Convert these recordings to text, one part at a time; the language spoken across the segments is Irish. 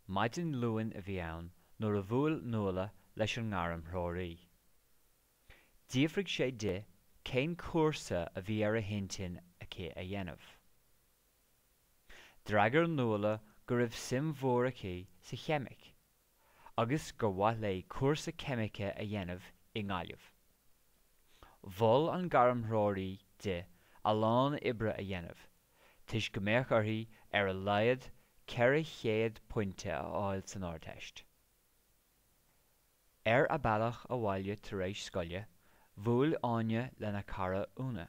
Maidin Luain a bhí ann nuair a bhuail Nuala leis an ngairmthreoraí. D'fhiafraigh sé di cén cúrsa a bhí ar a hintinn aici a dhéanamh. D'fhreagair Nuala go raibh suim mhór aici sa cheimic agus gur mhaith léi cúrsa ceimice a dhéanamh i nGaillimh. Mhol an gairmthreoraí di a lán oibre a dhéanamh toisc go mbeadh uirthi ar a laghad 400 pointe a fháil san Ardteist. Ar a bealach abhaile tar éis scoile, bhuail Áine lena cara Úna.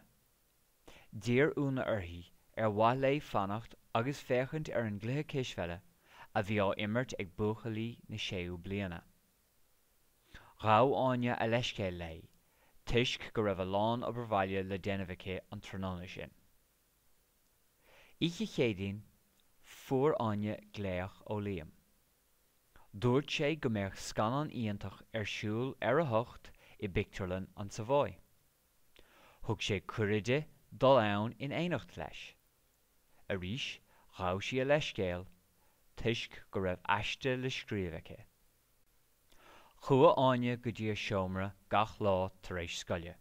D'iarr Úna uirthi ar mhaith léi fanacht agus féachaint ar an gcluiche cispheile a bhí á imirt ag buachaillí na séú bliana. Ghabh Áine a leithscéal léi toisc go raibh a lán obair bhaile le déanamh aici an tráthnóna sin. Oíche Chéadaoin, fuair Áine glaoch ó Liam. Dúirt sé go mbeadh scannán iontach ar siúl ar a hocht i bpictiúrlann an Savoy. Thug sé cuireadh di dul ann in éineacht leis. Arís, ghabh sí a leithscéal, toisc go raibh aiste le scríobh aici. Chuaigh Áine go dtí a seomra gach lá tar éis scoile,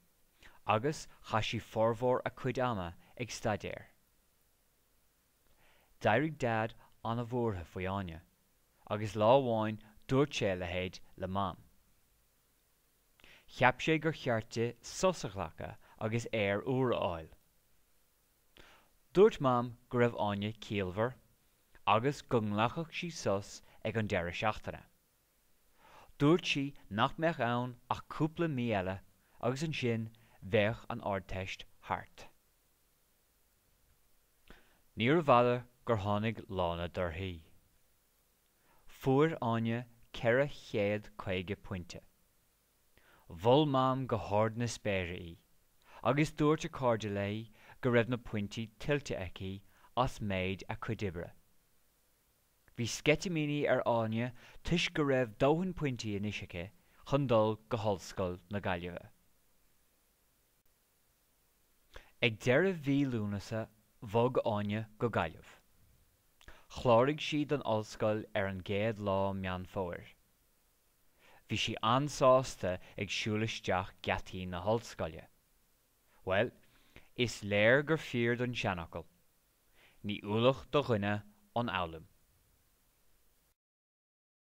agus chaith sí formhór a cuid ama ag staidéar. D'éirigh Daid an-bhuartha faoi Áine, agus lá amháin dúirt sé a leithéid le Mam. Cheap sé gur cheart di sos a ghlacadh agus aer úr a fháil. Dúirt Mam go raibh Áine ciallmhar agus go nglacfadh sí sos ag an deireadh seachtaine. Dúirt sí nach mbeadh ann ach cúpla mí eile agus ansin bheadh an Ardteist thart. Níorbh fhada gur tháinig lá na dtorthaí. Fuair Áine ceithre chéad caoga pointe. Mhol Mam go hard na spéire í, agus dúirt a cairde léi go raibh na pointí tuillte aici as méid a cuid oibre. Bhí sceitimíní ar Áine toisc go raibh dóthain pointí anois aici chun dul go hOllscoil na Gaillimhe. Ag deireadh mhí Lúnasa bhog Áine go Gaillimh. Chláraigh sí don ollscoil ar an gcéad lá Meán Fómhair. Bhí sí an-sásta ag siúl isteach geataí na hollscoile. Bhuel, is léir gur fíor don tseanfhocal, Ní ualach do dhuine an fhoghlaim.